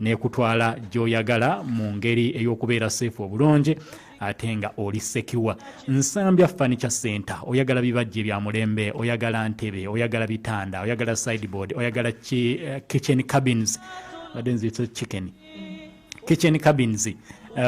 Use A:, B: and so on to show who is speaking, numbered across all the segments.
A: nekutwala gyoyagala mu ngeri ey'okubeera seefu obulungi ate nga oli sekiwa nsambya furniture center oyagala bibajje bya mulembe oyagala ntebe oyagala bitanda oyagala sideboard oyagala eh, kitchen cabins chicken kitchen cabins eh,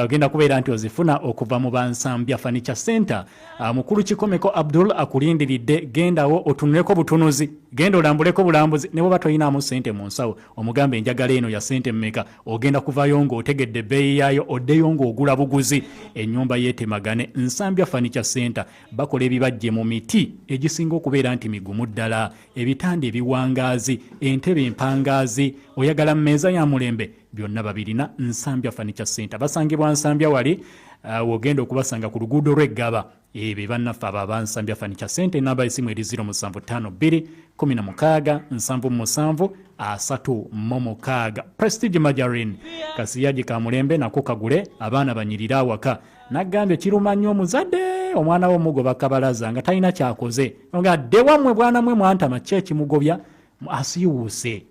A: ogenda kubeera nti ozifuna okuva mu bansambya furniture center ah, mukulu kikomeko abdul akulindiridde gendawo otunuleko butunuzi genda olambuleko bulambuzi ne bwoba toyinaamu sente mu nsawo omugamba enjagala eno ya sente mmeka ogenda kuvayo ng'otegedde ebbeeyi yaayo oddeyo ng'ogula buguzi ennyumba yeetemagane nsambya fanicha center bakola ebibajje mu miti egisinga okubeera nti migumu ddala ebitanda ebiwangaazi entebe empangaazi oyagala mu meeza ya mulembe byonna babirina nsambya fanicha center basangibwa nsambya wali uh, wogenda okubasanga ku luguudo lw'eggaba Ebe bannaffe abo abansambya fanica sente enamba esimu eri 07256773 prestige majarin kasiyagi ka mulembe nako kagule abaana banyirire awaka nagambye kiruma nnyo omuzadde omwana we omugoba kabalaza nga talina kyakoze nga dde wammwe bwana mwe mwantama ki ekimugobya asiiwuuse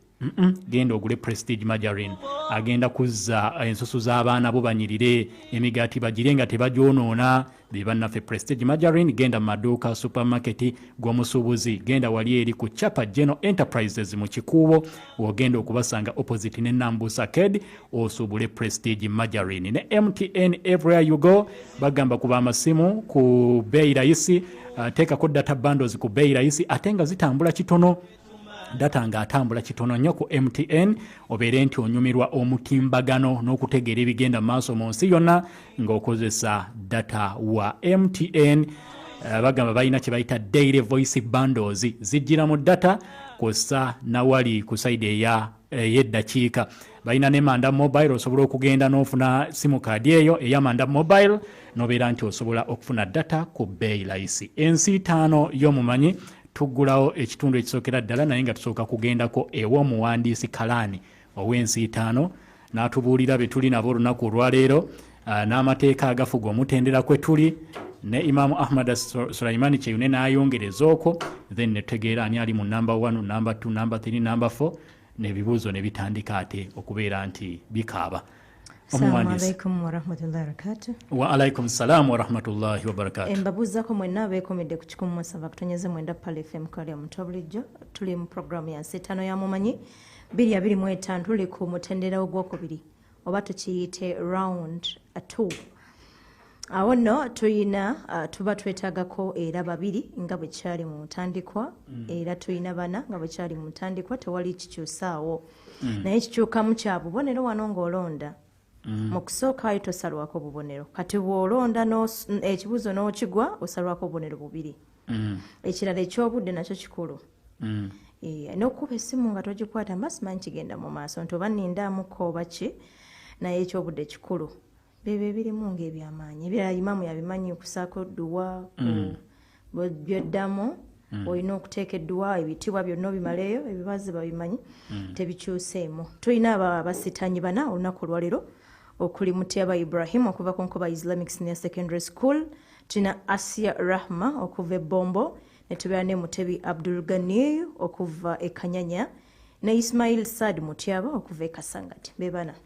A: genda ogule prestige majarin agenda kuzza eh, ensusu z'abaana bo banyirire emigaati bagire nga tebagyonoona be bannaffe prestige majarin genda mu maduuka supermarket gw'omusuubuzi genda wali eri ku chapa general enterprises mu kikuubo ogenda okubasanga opposite ne nambusa ked osuubule prestige majarin ne mtn everywhere you go bagamba kuba amasimu ku beeyi layisi eh, teekako data bandos ku beeyi layisi ate nga zitambula kitono data nga atambula kitono nnyo ku mtn obeere nti onyumirwa omutimbagano n'okutegeera ebigenda mu maaso mu nsi yonna ng'okozesa data wa mtn eh, bagamba balina kye bayita daily voice bandos zijjira mu data kwossa nawali ku saidi eya ey'eddakiika balina ne manda mobile osobola okugenda n'ofuna simu kaadi eyo eya manda mobile nobeera nti osobola okufuna data ku beeyi layisi ensi itaano y'omumanyi tuggulawo ekitundu ekisookera ddala naye nga tusooka kugendako ew'omuwandiisi kalaani ow'ensi itaano n'atubuulira bye tuli nabo olunaku olwaleero ah, n'amateeka agafuga omutendera kwe tuli ne imamu ahmad sulaimani kyeyune n'ayongereza okwo then netutegeera ani ali mu namba 1 namba 2 namba 3 namba 4 nebibuuzo ne bitandika ate okubeera nti bikaaba
B: waalaikum salam
A: warahmatullahi wabarakatu mbabuuzako mwenna
B: abeekomedde ku kikumu musava kutonyeze mwenda pale fm kale omuto bulijjo tuli mu programu ya nsi etaano ya mumanyi biri abiri mu etaano tuli ku mutendera ogwokubiri oba tukiyite round two awo nno tulina uh, tuba twetagako era babiri nga bwe kyali mu ntandikwa mm. era tulina bana nga bwe kyali mu ntandikwa tewali kikyusaawo mm. naye kikyukamu kya bubonero wano ng'olonda mm. mu kusooka ayo tosalwako bubonero kati bw'olonda ekibuuzo n'okigwa osalwako obubonero bubiri mm. ekirala eky'obudde nakyo kikulu mm. Eh, nokuba esimu nga togikwata mba simanyi kigenda mu maaso nti oba nindaamukka oba ki naye ekyobudde kikulu byebyo ebirimu ngaebyamaanyi ebirala imamu yabimanyi okusaako duwa mm. byoddamu mm. olina okuteeka edduwa ebitiibwa byonna obimaleeyo ebibazi babimanyi mm. tebikyuseemu tulina abasitanyi bana olunaku olwaleero okuli mutyaba ibrahim okuva ku nkuba islamic senior secondary school tulina asia rahma okuva ebombo netubeera ne mutebi abdul gani okuva ekanyanya ne ismail sad mutyaba okuva ekasangati bebana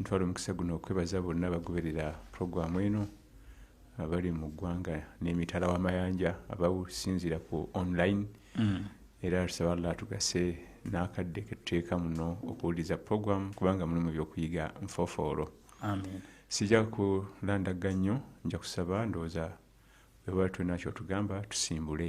C: ntwala omukisa guno okwebaza bonna abagoberera puroguramu eno abali mu ggwanga n'emitala w'amayanja abawusinziira ku online mm. era tusaba allah atugase n'akadde ketuteeka muno okuwuliriza puroguramu kubanga mulimu ebyokuyiga nfofoolo
A: sijja
C: kulandagga nnyo nja kusaba ndowooza webali tulina kyotugamba tusimbule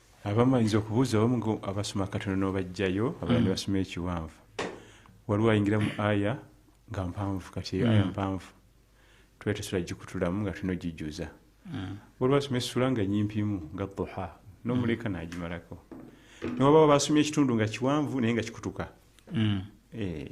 C: abamu ayinza okubuuza abamu abasoma akatono n'obajjayo abalala ne mm. basoma ekiwanvu waliwo ayingira mu aya nga mpanvu kati eyo aya mm. mpanvu tuba tesula gikutulamu nga tulina ogijuza mm. waliwo asoma essula nga nyimpimu nga duha n'omuleka nagimalako newababa basomye ekitundu nga kiwanvu naye nga kikutuka eh.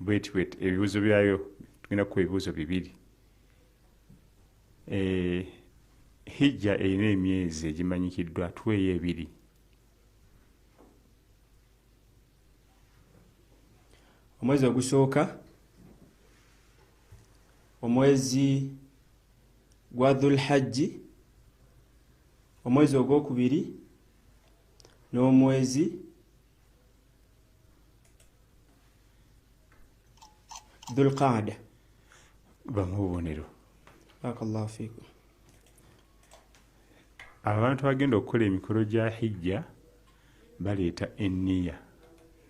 C: bweti bweti ebibuzo byayo tugenda kukuba ebibuzo bibiri eh, hijja erina emyezi egimanyikiddwa tuweeyo ebiri
D: omwezi ogusooka omwezi gwa dhulhajji omwezi ogwokubiri n'omwezi dhulqaada bamu
C: obubonero
D: barakallahu fikum
C: abantu bagenda okukola emikolo gya hijja baleeta enniya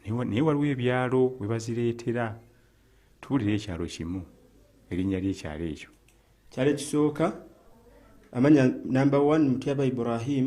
C: naye waliwo ebyalo we bazireetera tuwulira ekyalo kimu erinnya lyekyalo ekyo kyalo ekisooka
D: amanya namba 1 mutyaba ibrahim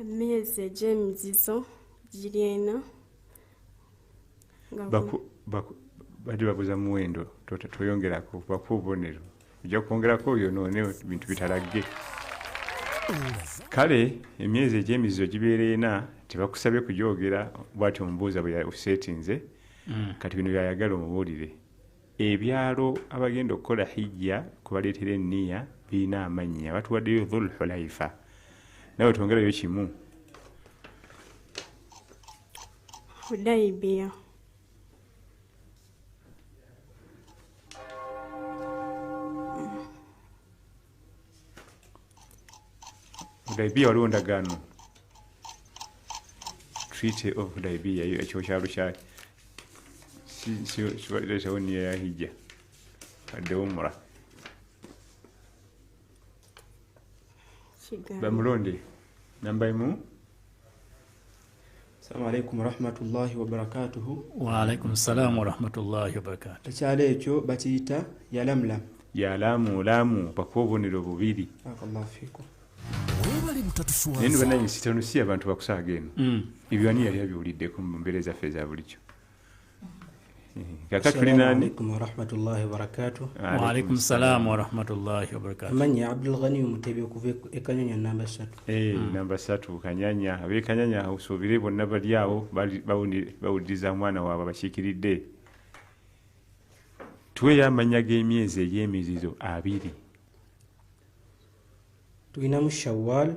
E: emyezi egy'emizizo giri ena
C: badi babuza muwendo toyongerako bakuwa obubonero ojja kwongerako oyo noone bintu bitalagge kale emyezi egy'emizizo gibeera ena tebakusabye kugyogera bwati omubuuza bwe yasetinze mm. kati bino byayagala omubuulire ebyalo abagenda okukola hijja kubaleetera enniya birina amannya batuwaddeyo dhul hulaifa nawe twongerayo kimu
E: hudaibiya
C: Libya waliwo ndagaano treaty of Libya ekyo kyalo kyali sibateesawo niyo ya hijja addewo mura bamulonde namba emu
D: Assalamu alaikum warahmatullahi wabarakatuhu. Wa alaikum salaam
A: warahmatullahi wabarakatuh. Ekyalo ekyo bakiyita
D: yalamlam. Yalamulamu
C: bakuwa obubonero bubiri. Barakallahu
D: fikum.
C: Naye banange sitanusi abantu bakusaaga eno. Mm. Ebyo ani yali abiwuliddeko mu mbeera ezaffe eza bulijjo.
A: amanya abdulghani
F: omutebi okuva ekanyanya namba satu eh, hmm. namba satu
C: kanyanya abekanyanya usubire bonna bali awo bawuliriza omwana waabwe abakiikiridde tuweyo amanya g'emyezi egy'emizizo abiri
F: tulinamu shawal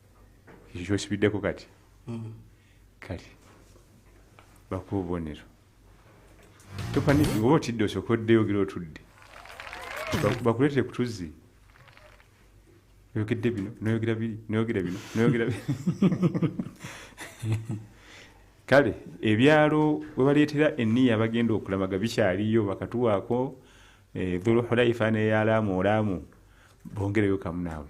F: ekyo
C: kyosibiddeko kati mm. kale bakuba obubonero topaniki oba otidde osooka oddeyo ogera otudde bakuleetere ku tuzzi oyogedde bino noyogera biri noyogera bino noyogera biri kale ebyalo webaleetera eniya bagenda okulamaga bikyaliyo bakatuwaako eh, dhuluhulaifa neyalaamu olaamu bongereyo kamu naawe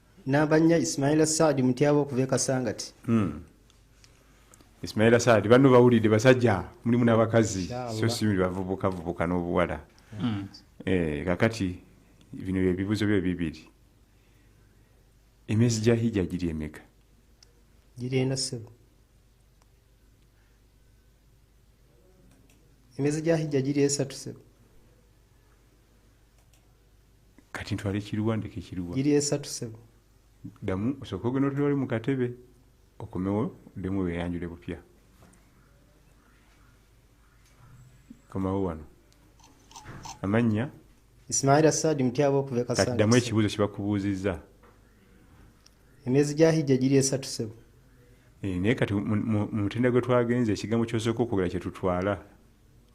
C: namba
F: nnya ismaila saadi mutyaba okuva ekasangati hmm.
C: ismaila saadi banno bawulidde basajja mulimu n'abakazi so simuli bavubukavubuka n'obuwala hmm. eh, kakati bino byebibuzo byo bibiri emyezi gya hijja giri emeka giri
F: ena sebo emyezi gya hijja giri esatu sebo
C: kati ntwale kiruwa ndeke kiruwa iri esatu sebo
F: damu
C: osooka ogenda otwale mu katebe okomewo demu weyanjule bupya komawo wano amannya isimaila
F: saadi mutyaba okuva ekasadamu ekibuuzo
C: kibakubuuzizza
F: emyezi gya hijja giri esatu sebo eh, naye
C: kati mu mutenda gwe twagenze ekigambo kyosooka okwogera kyetutwala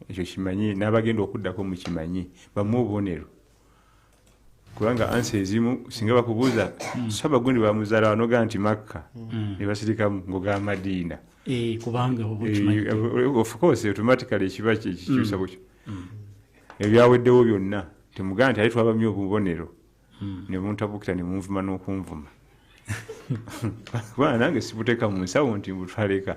C: ekyo kimanyi n'abagenda okuddako mukimanyi bamu obubonero kubanga ansi ezimu singa bakubuuza hmm. saba gundi bamuzaala wanoga nti makka hmm. ne basirikamu ngoga madiina
A: eh, eh, ofcourse
C: automatically ekiba kikyusa hmm. bukyo ebyaweddewo byonna temugaa nti aye twabamye obubonero ne muntabukira ne munvuma n'okunvuma kubanga nange sibuteka mu nsawo nti mbutwaleka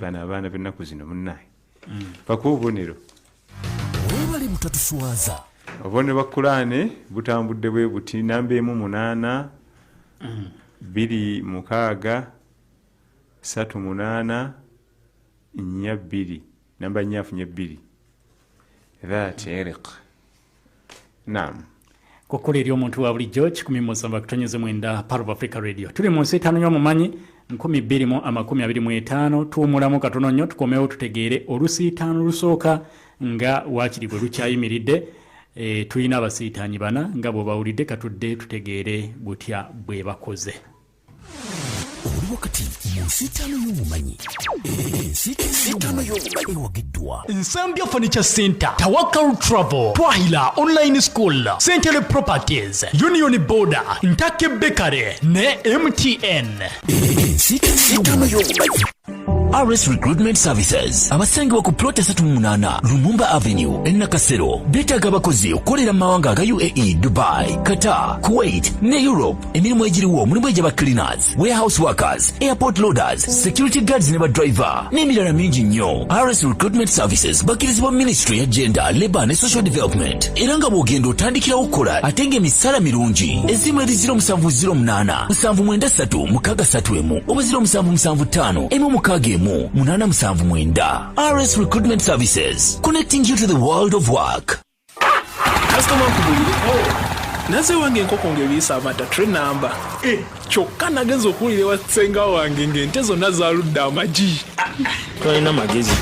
C: bano abaana bennaku zino munaye paka mm. obubonero
G: webale butatuswaza obubonero bwa
C: kulaane butambudde bwe buti namba emu munaana mm. biri mukaaga satu munaana nya bbiri namba nyafu nya bbiri that eriq nam kukula
A: eri omuntu wa bulijjo kikumi musamba kutonyeze mwenda parv africa radio tuli mu nsi etaano yomumanyi 225 tuwumulamu katono nnyo tukomewo tutegeere olusiitaano lusooka nga waakiri bwe lukyayimiridde e, tulina abasiitaanyi bana nga bwebawulidde katudde tutegeere butya bwe bakoze
G: oli wakati mu nsiitaano y'obumanyi ensiitaano y'obumanyi ewagiddwa nsambya furniture
A: center tawakal travel twahila online school central properties union border ntake bekare ne mtn
G: ensiitaano y'obumanyi RS Recruitment Services abasangibwa ku plot esatu mu munaana Lumumba Avenue e Nakasero beetaaga abakozi okukolera mu mawanga aga UAE, Dubai, Qatar, Kuwait ne Europe. Emirimu egiriwo mulimu egyaba cleaners, warehouse workers, airport loaders, security guards ne badriver n'emirala mingi nnyo. RS Recruitment Services bakkirizibwa ministry ya gender, labour ne social development era nga bw'ogenda otandikirawo okukola ate ng'emisaala mirungi. Ezzimu erizira omusanvu ziro munaana nsanvu mwenda ssatu mukaaga ssatu emu oba ziro musanvu musanvu ttaano emu mukaaga emu munaana musanvu mwenda rs recruitment services connecting you to the world of work kasitoma
H: nkubulire oh, naze wange enkoko ng'ebiisa amata tre namba eh, kyokka nagenza okuwulira ewa ssenga wange ng'ente zonna zaludde amagi tolina magezi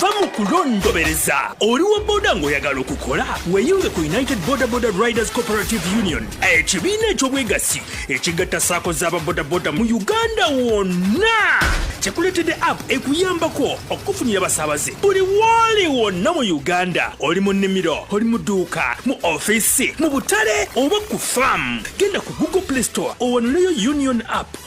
H: va mu kulondobereza oli wa boda ng'oyagala okukola weeyunge ku united boda boda riders cooperative union ekibiina eky'obwegassi ekigatta saako z'ababodaboda mu uganda wonna
I: kyekuleetedde app ekuyambako okukufunira abasaabaze buli wooli wonna mu uganda oli mu nnimiro oli mu dduuka mu ofiisi mu butale oba ku faamu genda ku google play store owanuleyo union app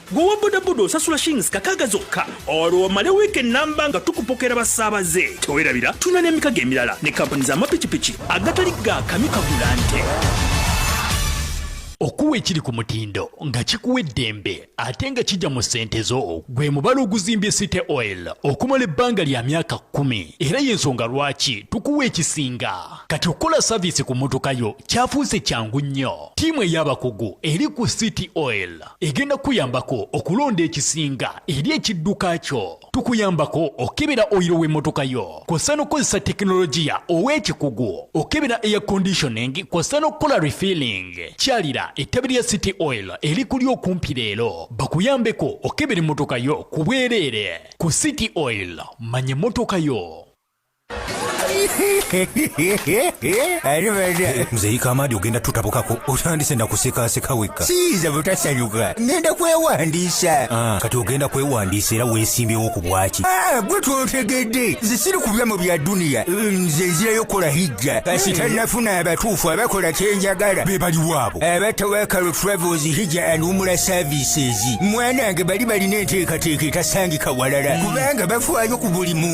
I: gwe wa bodaboda osasula shillings kakaaga zokka olwo omale wiiki ennamba nga tukupokera basaabaze tewerabira tulina n'emikago emirala ne kampuni z'amapikipiki agatali ga kami kagula nte
A: okuwa ekiri ku mutindo nga kikuwa eddembe ate nga kijja mu ssente zo gwe mubala oguzimbye city oil okumala ebbanga lya myaka kkumi era y'ensonga lwaki tukuwa ekisinga kati okukola saviisi ku mmotoka yo kyafuuse kyangu nnyo ttiimu ey'abakugu eri ku city oil egenda kukuyambako okulonda ekisinga eri ekidduka kyo tukuyambako okukebera oyiro w'emmotoka yo kw'ossa n'okukozesa tekinologiya ow'ekikugu okukebera air conditioning kw'ossa n'okukola refilling kyalira ettabi lya city oil erikuli okumpi leero bakuyambeko okukebera emmotoka yo ku bwereere ku city oil manya emmotoka yo
J: ate bana muzeyika amaadi ogenda tutabukako otandise nakusekaseka wekka siyiza butasanyuka ngenda kwewandiisa Ah, kati ogenda kwewandiisa era weesimbyewo ku bwaki Ah, gwe twotegedde nze siri kubya mu bya duniya nze nzirayo kukola hijja kasita nafuna abatuufu abakola kyenjagala be baliwo abo aba tawakalo travels hija and umula services mwanange bali balina enteekateeka etasangika walala kubanga bafaayo ku buli muntu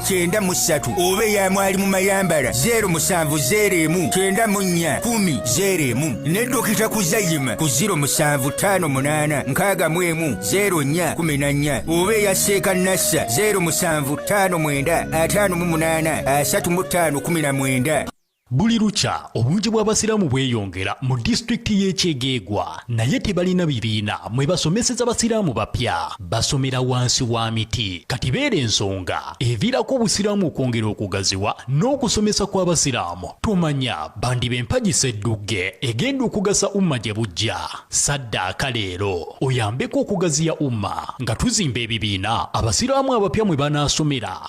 J: kyenda mu ssatu oba eya mwali mu mayambala zeero musanvu zeero emu kyenda mu nnya kumi zeero emu ne dokita kuzayima ku ziro musanvu ttaano munaana nkaaga mu emu zeero nnya kumi na nnya oba eya seeka nassa zeero musanvu ttaano mwenda ataano mu munaana asatu mu ttaano kumi na mwenda Buli lukya
A: obungi bw'Abasiraamu bweyongera mu disitulikiti y'e Kyegeegwa naye tebalina bibiina mwe basomeseza Basiraamu bapya. Basomera wansi wa miti. Kati beera ensonga eviirako Obusiraamu okwongera okugaziwa n'okusomesa kw'Abasiraamu tomanya bandiba empagi sseddugge egenda okugasa Umma gye bujja. Saddaaka leero oyambeko okugaziya Umma nga tuzimba ebibiina Abasiraamu abapya mwe banaasomera.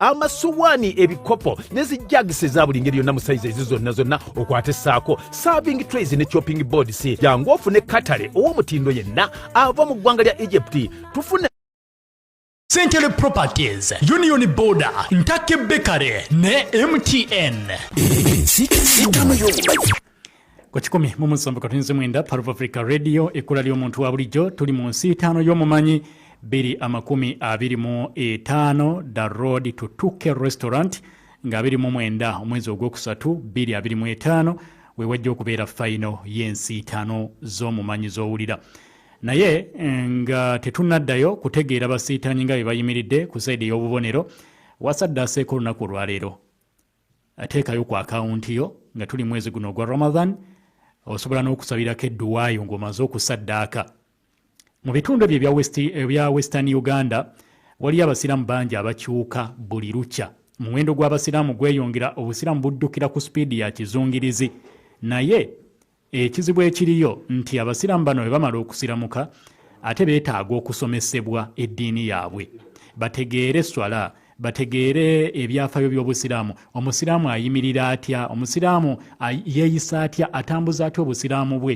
K: amasuwaani ebikopo ne zijagisi eza buli ngeri yonna mu sayizi ezo zonna zonna okwate saako serving trays ne chopping boards jangu ofune katale ow'omutindo yenna ava mu ggwanga lya egypt tufune
A: Century Properties, Union Border, Ntake Bakery ne MTN. ku kikumi mu musanvu katonzi mwenda parv africa radio ekkula ly'omuntu wa bulijjo tuli mu nsi itaano y'omumanyi biri amakumi abiri mu etaano the road to tuke restaurant nga abiri mu mwenda omwezi ogwokusatu biri abiri mu etaano wewajja okubeera fayino y'ensi itaano z'omumanyi z'owulira naye eh, nga tetunaddayo kutegeera basiitaanyi nga bye bayimiridde ku saidi ey'obubonero wasadde aseeko olunaku olwaleero teekayo ku akawunti yo nga tuli mwezi guno ogwa ramadan osobola n'okusabirako edduwaayo ng'omaze okusaddaaka mu bitundu ebyo ebya eh, western uganda waliyo abasiraamu bangi abakyuka buli lukya omuwendo gw'abasiraamu gweyongera obusiraamu buddukira ku sipiidi ya kizungirizi naye Ekizibu ekiriyo nti abasiraamu bano bwe bamala okusiramuka ate beetaaga okusomesebwa eddiini yaabwe bategeere swala bategeere ebyafayo by'obusiraamu omusiraamu ayimirira atya omusiraamu yeeyisa atya atambuza atya obusiraamu bwe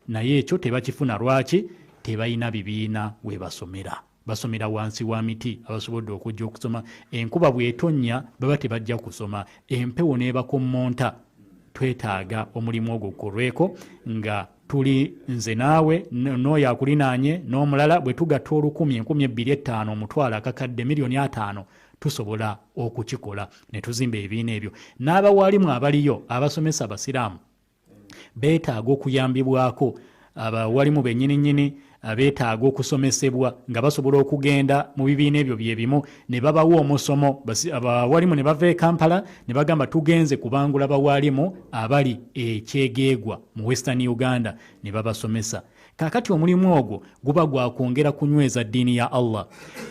A: naye ekyo tebakifuna lwaki tebalina bibiina we basomera basomera wansi wa miti abasobodde okujja okusoma enkuba bwetonnya baba tebajja kusoma empewo n'ebakommonta twetaaga omulimu ogwo gukolweko nga tuli nze naawe n'oyo akulinaanye n'omulala bwe tugatta olukumi enkumi ebbiri ettaano omutwalo akakadde miliyoni ataano tusobola okukikola ne tuzimba ebibiina ebyo n'abawaalimu abaliyo abasomesa abasiraamu beetaaga okuyambibwako abawalimu bennyini nnyini abeetaaga okusomesebwa nga basobola okugenda mu bibiina ebyo bye bimu ne babawa omusomo abawalimu ne bava e kampala ne bagamba tugenze kubangula bawalimu abali ekyegeegwa mu western uganda ne babasomesa kakati omulimu ogwo guba gwakwongera kunyweza ddiini ya allah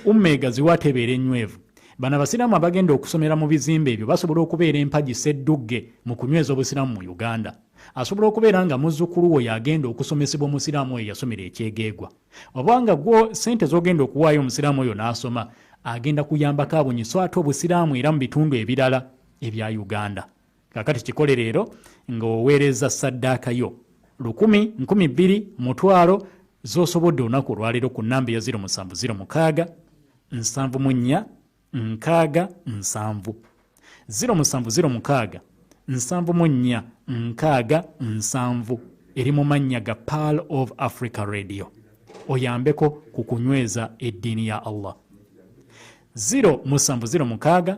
A: umma egaziwa atebeera ennywevu Bano abasiraamu abagenda okusomera mu bizimbe ebyo basobola okubeera empagi sseddugge mu kunyweza obusiraamu mu Uganda. Asobola okubeera nga muzzukulu wo y'agenda okusomesebwa omusiraamu oyo yasomera ekyegeegwa. Oba nga gwo ssente z'ogenda okuwaayo omusiraamu oyo n'asoma, agenda kuyambako abunyi so ate obusiraamu era mu bitundu ebirala ebya Uganda. kakati kikole leero ng'oweereza saddaaka yo lukumi nkumi bbiri mutwalo z'osobodde olunaku olwaleero ku nnamba eya 0706 nsanvu mu nnya nkaaga nsanvu 0706 nsanvu mu nnya nkaaga nsanvu eri mu mannya ga pearl of africa radio oyambeko ku kunyweza eddiini ya allah 0706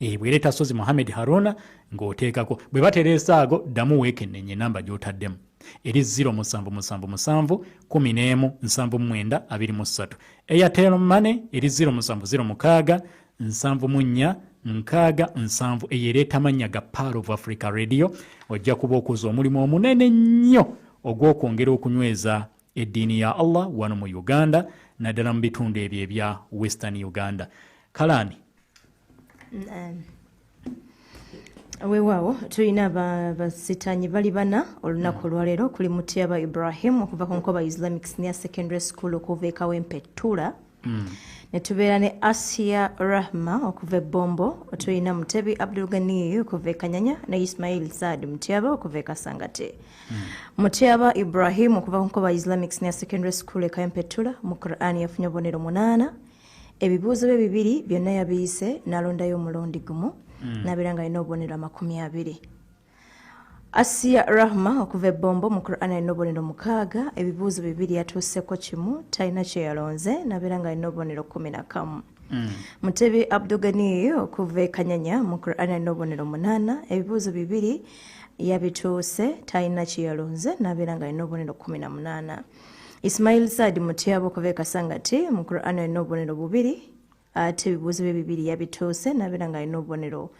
A: ebwereta sozi muhammed haruna ng'oteekako bwe batereesa ago ddamu weekennenye enamba gy'otaddemu eri 0777171723 airtel mane eri 0706 nkaaga nsanvu eyo ereeta amannya ga paal of africa radio ojja kuba okuza omulimu omunene nnyo ogw'okwongera okunyweza eddiini ya allah wano mu uganda naddala mu bitundu ebyo ebya western uganda kalaani
B: weewaawo tulina basitanyi bali bana olunaku mm. olwaleero kuli mutyaba ibrahim okuva ku nkoba islamic senior secondary school okuva ekawempe tura mm. netubeera ne asia rahma okuva ebombo tulina mutebi abdulgani okuva ekanyanya ne ismail saad mutyaba okuva ekasangate mm. mutyaba ibrahim okuva kunkoba islamic senior secondary school ekaempetula mu quran yafunye obubonero munaana ebibuuzo bye bibiri byonna yabiyise nalondayo omulundi gumu mm. nabeera nga alina obubonero amakumi abiri asiya rahma okuva ebbombo mu quran alina obubonero mukaaga ebibuuzo bibiri yatuuseko kimu talina kyeyalonze nabeera nga alina obubonero kumi na kamu mm. mutebi abdugani okuva ekanyanya mu quran alina obubonero munaana ebibuuzo bibiri yabituuse talina kyeyalonze nabeera nga alina obubonero kumi na munaana ismail saadi mutyaba okuva ekasangati mu quran alina obubonero bubiri ate ebibuuzo bye bibiri yabituuse nabeera nga alina obubonero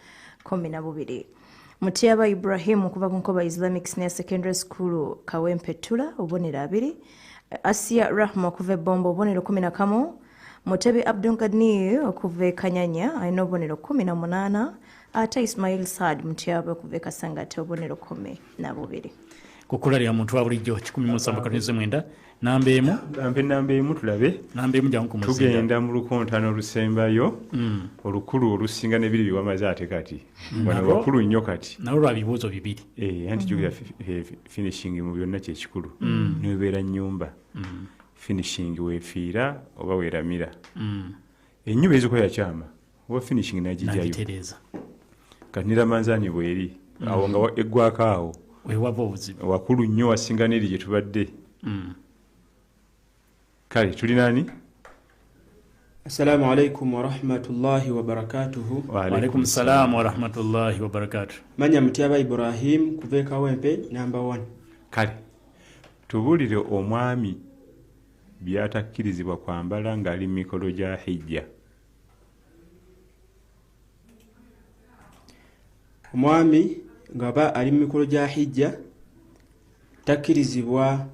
B: kumi na bubiri mutyaba ibrahim okuva ku nkoba islamic senior secondary school kawempetula obubonero abiri asia rahma okuva ebomba obubonero kumi na kamu mutebi abdungani okuva ekanyanya alina obubonero kumi na munaana ate ismail saad mutyaba okuva ekasangate obubonero kumi na bubiri ku kkula lya
A: muntu wa bulijjo kikumi mu nsanvu katonda ez'omwenda namba emu ampe namba emu tulabe namba emu jangu kumuzinda
C: tugenda mu lukontana olusembayo mm. olukulu olusinga nebiri biwamaze ate kati mm. wano wakulu nnyo kati nawe lwa bibuuzo bibiri
A: eh, anti jukira mm. eh,
C: finishing mu byonna kyekikulu niwebeera nyumba finishing wefiira oba weramira enyumba ezikola yakyama oba finishing nagitereeza kati niramanzanyi bweri mm. awo nga eggwako awo wewaba obuzibu
A: wakulu nnyo wasinga
C: neri gye tubadde mm. kale tuli nani assalamu
D: alaikum warahmatullahi wabarakatuhu waalaikum
A: salaamu warahmatullahi wabarakatu manya mutyaba
D: ibrahim kuva ekawempe namba 1 kale
C: tubuulire omwami by'atakkirizibwa kwambala ng'ali mu mikolo gya hijja
D: omwami ngaba ali mu mikolo gya hijja takkirizibwa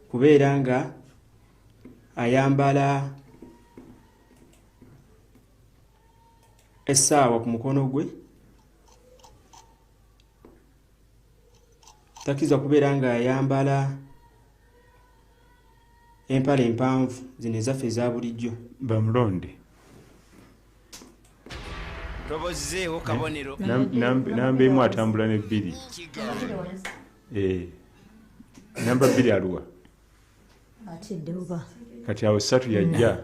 D: kubeera nga ayambala essaawa ku mukono gwe takkirizibwa kubeera nga ayambala empala empanvu zino ezaffe eza bulijjo bamulonde
L: tobozzeewo kabonero namba
C: emu atambula ne bbiri eh, namba bbiri aluwa
B: kati awo satu
C: yajja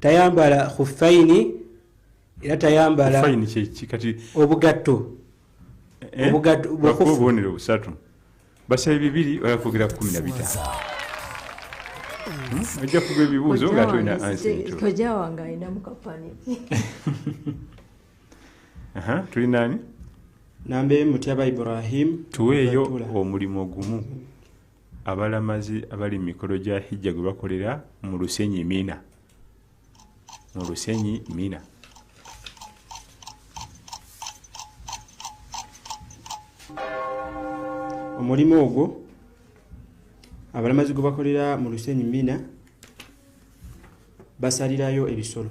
F: tayambala khuffaini era tayambala obugatto eh? obugattoobubonero
C: busatu basaba bibiri olakwogera kumi na bitaano ojja kuba ebibuuzo nga tolina ansikojja wange alina
B: mukapani
C: tuli nani nambe
D: mutyaba ibrahim tuweeyo
C: omulimu ogumu abalamazi abali mumikolo gya hijja gwe bakolera mu lusenyi mina mu lusenyi mina
D: omulimu ogwo abalamazi gwe bakolera mu lusenyi mina basalirayo ebisolo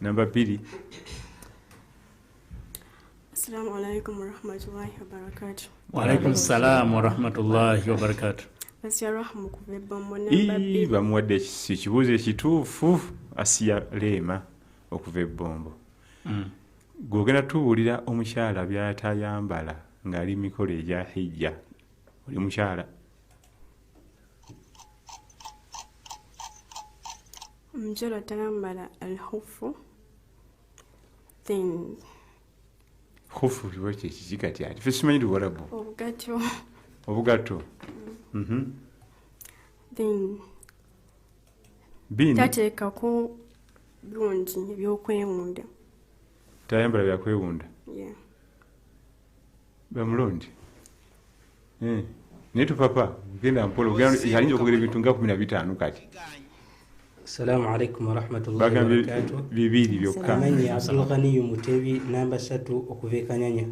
C: namba bbiri assalamu
E: alaikum warahmatullahi wabarakatu waalaikum
A: salaam warahmatullahi wabarakatu asiya rahma
E: okuva ebbamu namba bbiri bamuwadde ekis- ekibuuzo
C: ekituufu asiya leema okuva ebbombo Mm. gwogenda tubuulira omukyala byatayambala ng'ali mu mikolo egya hijja oli mukyala
E: omukyala tayambala alhufu then
C: hufu liwa kyekiki kati ati fe simanyi liwarabu obugato obugato mm. mhm.
E: then
C: bini tateekako
E: birungi ebyokwewunda
C: tayambala byakwewunda
E: yeah.
C: bamulonde eh, naye tupapa genda mpola alinza okwogera ebintu nga kumi na bitaano kati
F: assalamu alaikum warahmatullahi wabarakatu bibiri byokka
C: amanyi abdulghaniyu
F: mutebi namba satu okuva ekanyanya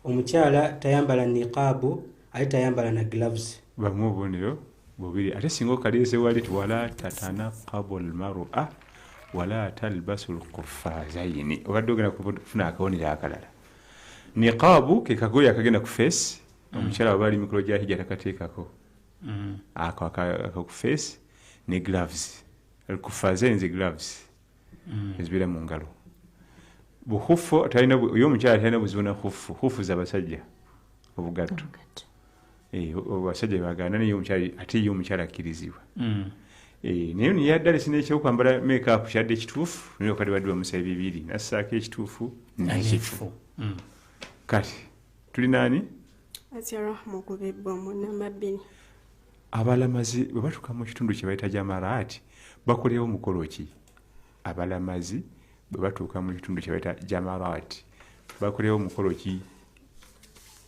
F: omukyala tayambala niqaabu ate tayambala na gloves bamu obubonero
C: bubiri ate singa okaliize wali ti wala tatanakabu lmarua wala talbasu lkufazaini obadde ogenda kufuna akabonero akalala niqaabu ke kagoye akagenda ku feesi mm. omukyala waba ali mikolo gya hijja takateekako mm. ako akaku feesi ne gloves alkufaze nze gloves mm. ezibeera mu ngalo buhufu oyo omukyala talina buzibu na hufu hufu zabasajja obugatto Eh, abasajja bagana naye omukyala ate ye omukyala akkirizibwa mm. eh, naye niyaddala sina ekyokwambala makeup kyadde ekituufu naye okadde badde bamusa ebibiri nassaako ekituufu nekifu mm. kati tuli naani
E: abalamazi
C: bwe batuuka mu kitundu kye bayita jamaraati bakolewo omukolo ki abalamazi bwe batuuka mu kitundu kye bayita jamaraati bakolewo omukolo ki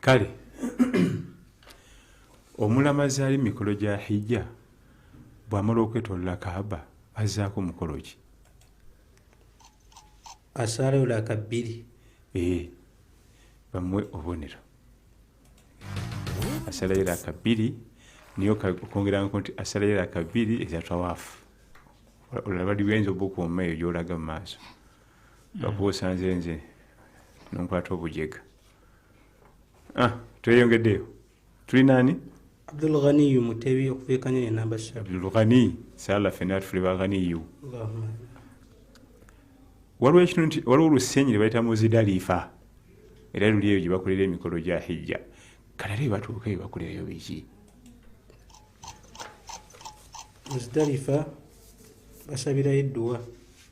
F: kale
C: omulamazi ali mikolo gya hijja bwamala okwetolola kaaba azaako mukolo ki
F: asaalaolaka bbiri ee eh,
C: bamuwe obubonero asalayo laka bbiri niyo okwongeranko nti asalayo laka bbiri ezatawaafu olaba liwenza obukuuma eyo gyolaga mu maaso bakuba osanze nze nonkwata obujega ah, tweyongeddeyo tulina ani abdulghaniyu
F: mutebi okubeekanya yenamba abdulghani
C: sala fena tufule baghaniyu waliwo ekintu nti waliwo olusenyi lwebayita muzidalifa era luli eyo gyebakolera emikolo gya hijja kale era ebatuuka ebakolerayo biki
F: muzidalifa basabirayo edduwa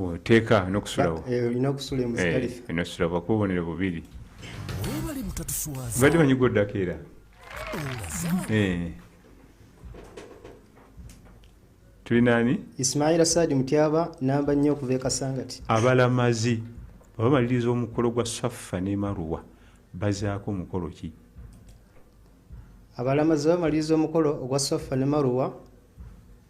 M: oteeka
C: nokusulawo eh, olina okusula
M: emusdalifa eh, nosula bakuba obonero
C: bubiri mbadde manyi gwoddako era eh. tuli nani ismaila saadi
M: mutyaba namba nnyo okuva ekasangati abalamazi
C: abamaliriza omukolo gwa saffa ne maruwa bazaako omukolo ki
M: abalamazi bamaliriza omukolo ogwa saffa ne maruwa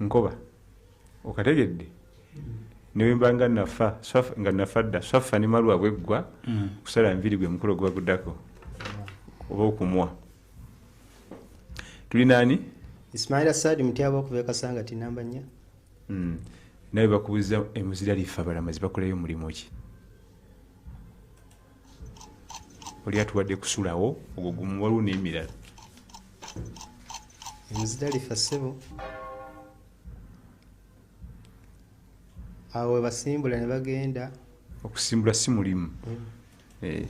C: nkoba okategedde newembanga nafa nga nafa dda swafa ne malwa bweggwa mm. kusala nviri gwe mukolo gwaguddako oba okumwa tuli nani ismaila sadi
M: mutyaba okuva ekasanga tinamba nya mm. nawe
C: bakubuza emuzira lifa balamazi bakolayo omulimu ki oli atuwadde kusulawo ogwo gumu waliwo n'emirala
M: emuzidalifa ssebo awo webasimbula ne bagenda okusimbula si
C: mulimu mm. eh.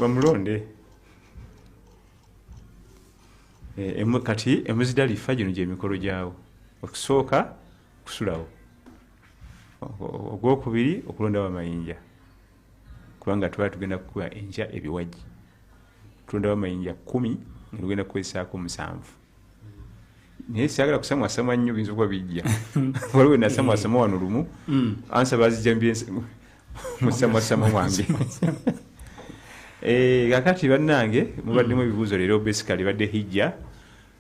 C: bamulonde eh, kati emuzidalifa gino gyemikolo gyawo okusooka kusulawo ogwokubiri okulondawo amayinja kubanga twali tugenda kukuba enkya ebiwagi tulondawo amayinja kumi nga tugenda kukozesaako omusanvu naye sagala kusamwasama nnyo binza okuba bijja waliwo nasamwasama wano lumu mm. ansa bazijja musamwasama wange eh, kakati bannange mubaddemu ebibuuzo leero basically badde hijja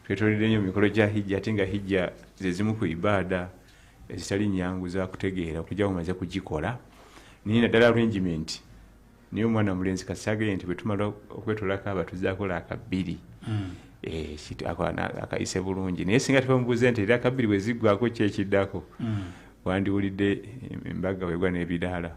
C: twetolede nyo mikolo gya hijja ate nga hijja zezimu ku ibaada ezitali nyangu zakutegeera okuja mumaze kugikola naye naddala arrangement naye omwana mulenzi kasage nti bwetumala okwetolako abatuzakola akabbiri hmm. eh, akayise bulungi naye singa tubamubuuze nti era akabbiri bweziggwako kyekiddako hmm. wandiwulidde embaga wegwa n'ebidaala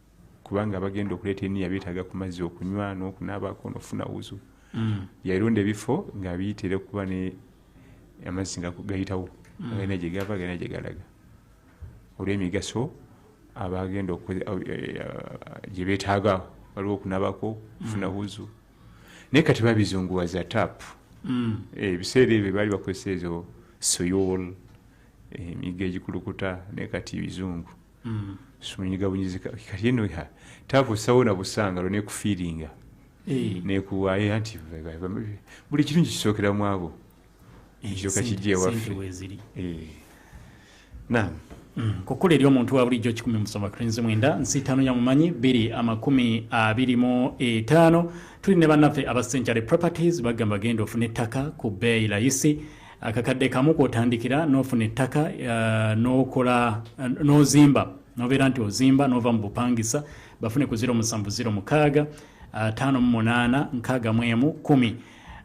C: kubanga abagenda okuleeta eniya beetaaga ku mazzi okunywa n'okunaabako n'okufuna wuzu mm. yalonda ebifo ng'abiyitira okuba ne amazzi nga gayitawo mm. galina gye gava galina gye galaga olw'emigaso abagenda eh, gye beetaaga waliwo okunabako okufuna mm. wuzu naye kati babizunguwaza tap eh, ebiseera ebyo baali bakozesa ezo soyol emiga eh, egikulukuta naye kati bizungu mm. simunyiga bunyizi kati eno takusawo na busanga lwo nekufiiringa eh. nekuwaayo anti buli kirungi kisookera mu abo eh, ekyoka kijja ewaffe eh. nam mm.
A: kukula eri omuntu wa bulijjo kikumi musoma krinzi mwenda nsi ttaano ya mumanyi biri amakumi abiri mu etaano tuli ne bannaffe aba century properties bagamba genda ofuna ettaka ku bbeeyi layisi akakadde kamu kwotandikira nofuna ettaka uh, nokola uh, nozimba nobeera nti ozimba nova mu bupangisa bafune ku 0706 58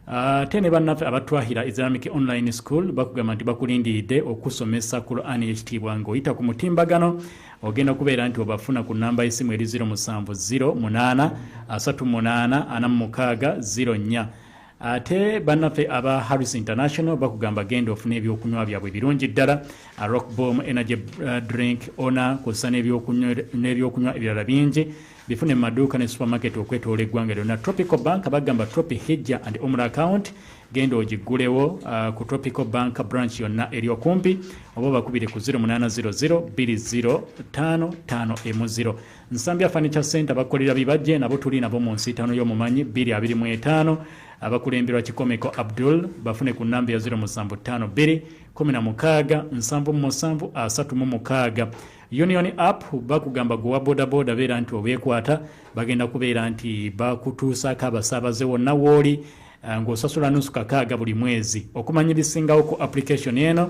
A: ate uh, ne bannaffe abatwahira islamic online school bakugamba nti bakulindiridde okusomesa qurani yekitiibwa ngaoyita ku mutimbagano ogenda okubeera nti obafuna ku namba yesimu eri 0708 38 46 04 ate bannaffe aba harris international bakugamba genda ofuna ebyokunywa byabwe ebirungi ddala rock bom energy uh, drink ona kusa n'ebyokunywa ebirala bingi bifune mu maduuka ne supermarket okwetoola eggwanga lyonna tropical bank bagamba tropi hijja and omra account genda ogiggulewo uh, ku tropical bank branch yonna eri okumpi oba bakubire ku 0800 205 5 mu 0 Nsambya Furniture Center bakolera bibajje nabo tuli nabo mu nsiitaano y'omumanyi 225 abakulemberwa Kikomeko Abdul bafune ku nnamba ya 0752 Union app bakugamba gwe wa bodaboda beera nti obeekwata bagenda kubeera nti bakutuusaako abasaabaze wonna wooli eh, ng'osasula nusu kakaaga buli mwezi okumanya ebisingawoko application eno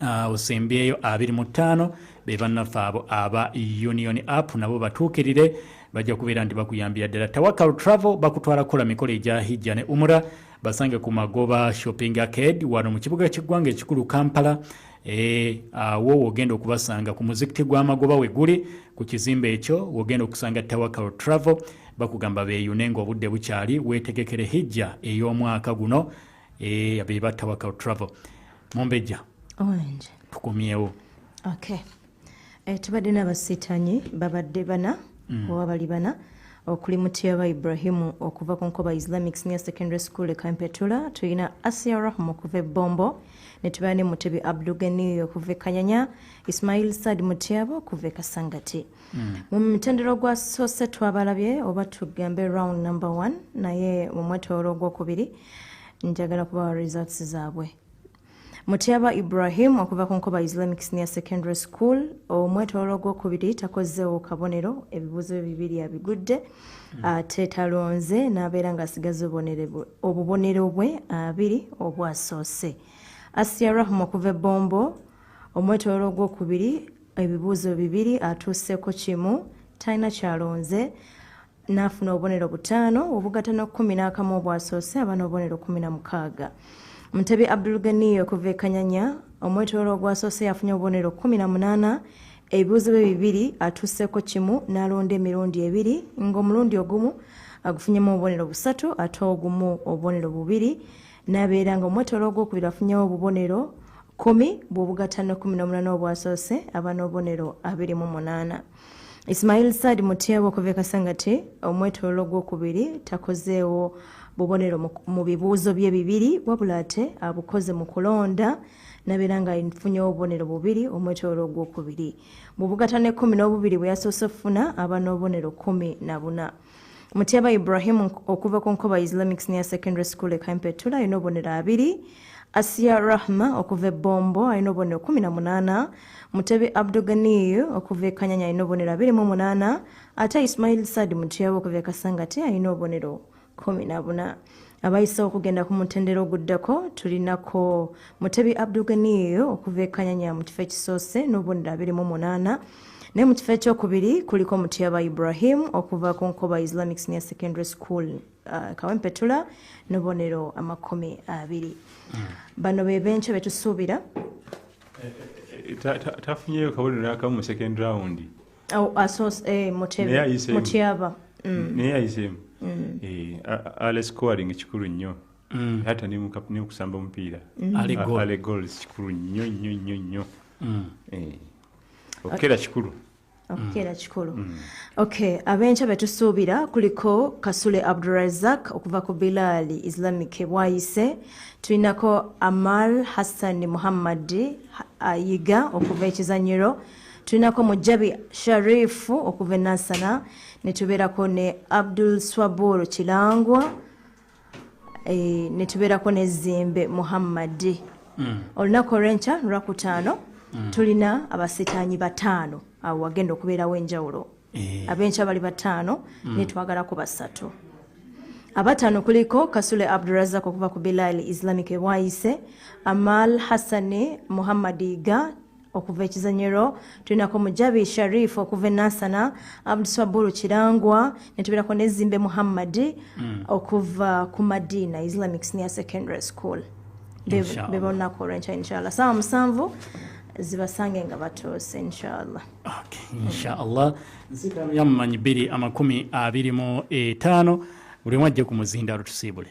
A: Ah, osembyeyo abiri mu ttaano be bannaffe abo aba union app nabo batuukirire bajja kubeera nti bakuyambira ddala tawakal travel bakutwala kukola mikolo egya hijja ne umura basange ku magoba shopping arcade wano mu kibuga ky'eggwanga ekikulu kampala eh, awo e, wogenda okubasanga ku muzikiti gw'amagoba we guli ku kizimbe ekyo wogenda okusanga tawakal travel bakugamba beeyune ng'obudde bukyali weetegekere hijja ey'omwaka guno eh, abeba tawakal travel mumbejja
B: tukumyewo okay. e, tubadde nabasitanyi babadde bana mm. oba bali bana okuli mutyaba ibrahimu okuva ku nkoba islamic senior secondary school ekampetula tulina asia rahma okuva ebombo netubeera ne mutebi abdugeniyo okuva ekanyanya ismail sad mutyaba okuva ekasangati Mm. mu mutendero gwa sose twabalabye oba tugambe round number one naye mu mwetoolo ogwokubiri njagala kubawa results zaabwe mutyaba ibrahim okuva ku nkoba islamic senior secondary school omwetoolo ogwokubiri takozeewo kabonero ebibuuzo bye bibiri abigudde mm. ate talonze n'abeera ng'asigaza obubonero bwe abiri obwasoose asiya rahma okuva ebombo omwetololo ogwokubiri ebibuuzo bibiri atuuseko kimu talina kyalonze n'afuna obubonero butaano obugata n'okumi n'akamu obwasoose aba n'obubonero kumi na mukaaga mutebi abdulganiyo okuva ekanyanya omwetololo ogwasoose yafunye obubonero kumi na munaana ebibuuzo bye bibiri atuuseko kimu n'alonda emirundi ebiri ng'omulundi ogumu agufunyemu obubonero busatu ate ogumu obubonero bubiri nabeera nga omwetolo ogwokubiri afunyewo obubonero kumi bwobugatano kumi nomunana obwasoose aba nobubonero abiri mu munaana ismail saad mutyaba okuva ekasangati omwetolo ogwokubiri takozeewo bubonero mu bibuuzo bye bibiri wabula ate abukoze mu kulonda nabeera nga nfunyewo obubonero bubiri omwetolo ogwokubiri bwobugatano ekumi nobubiri bweyasoose okufuna aba nobubonero kumi na buna Mutyaba Ibrahim okuva ku Nkoba Islamic Senior Secondary School e Kampetula alina obubonero abiri. Asiya Rahma okuva e Bombo alina obubonero kumi na munaana. Mutebi Abduganiyu okuva e Kanyanya alina obubonero abiri mu munaana ate Ismail Saad Mutyaba okuva e Kasangati alina obubonero kumi na buna. abayisewo okugenda ku mutendera oguddako tulinako mutebi abduganiyo okuva ekanyanya mu kifo ekisoose n'obubonero abiri mu munaana naye mu kifo ekyokubiri kuliko mutyaba ibrahim okuva ku nkoba islamic senior secondary school uh, kawempetula n'obubonero amakumi abiri hmm. bano be benkyo betusuubira eh, eh, eh,
C: tafunyeyo kabonero nakamu mu second round oh, eh,
B: mutyaba mm. naye
C: ayiseemu mm. eh, ale scoring kikulu nnyo mm. hata neokusamba omupiira ale gols kikulu nnyo nnyo nnyo nnyo eh, okukera kikulu okukeera
B: kikulu mm. ok abenkya betusuubira kuliko kasule abdurazak okuva ku bilaali islamic bwayise tulinako amal hassan muhammadi ayiga okuva ekizanyiro tulinako mujabi sharifu okuva enasana netubeerako ne abdul swabur kilangwa e, netubeerako ne zimbe muhammadi mm. olunaku olwenkya lwakutaano mm. tulina abasitaanyi bataano awo wagenda okubeerawo enjawulo e. abenkya bali bataano mm. netwagalako basatu abatano kuliko kasule abdurazak okuva ku bilal islamic ewayise amal hassani muhammadi ga okuva ekizanyiro tulinako mujabi sharif okuva enasana abdusaburu kirangwa netubeerako nezimbe muhammadi mm. okuva ku madina islamic senior secondary school bebonako olwenkya inshallah saawa musanvu zibasange nga batuuse inshallah inshallah
A: nzirayamumanyi biri amakumi abiri mu etaano buli omu ajje ku muzindaalo tusiibule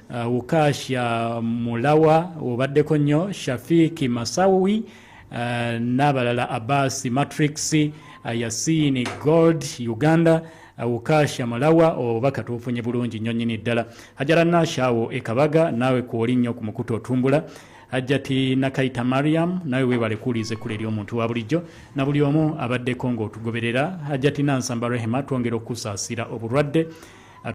A: Uh, Wukasha Mulawa obaddeko nnyo Shafiki Masawi uh, n'abalala Abbas Matrix uh, Yasini Gold Uganda uh, Wukasha Mulawa oba katuufunye bulungi nnyo nnyini ddala Hajara Nasha awo ekabaga naawe kwoli nnyo ku mukutu otumbula Hajjati Nakayita Mariam nawe webale kuwuliriza ekkulu eri omuntu wa bulijjo na buli omu abaddeko ng'otugoberera Hajjati Nansamba Rehema twongera okusaasira obulwadde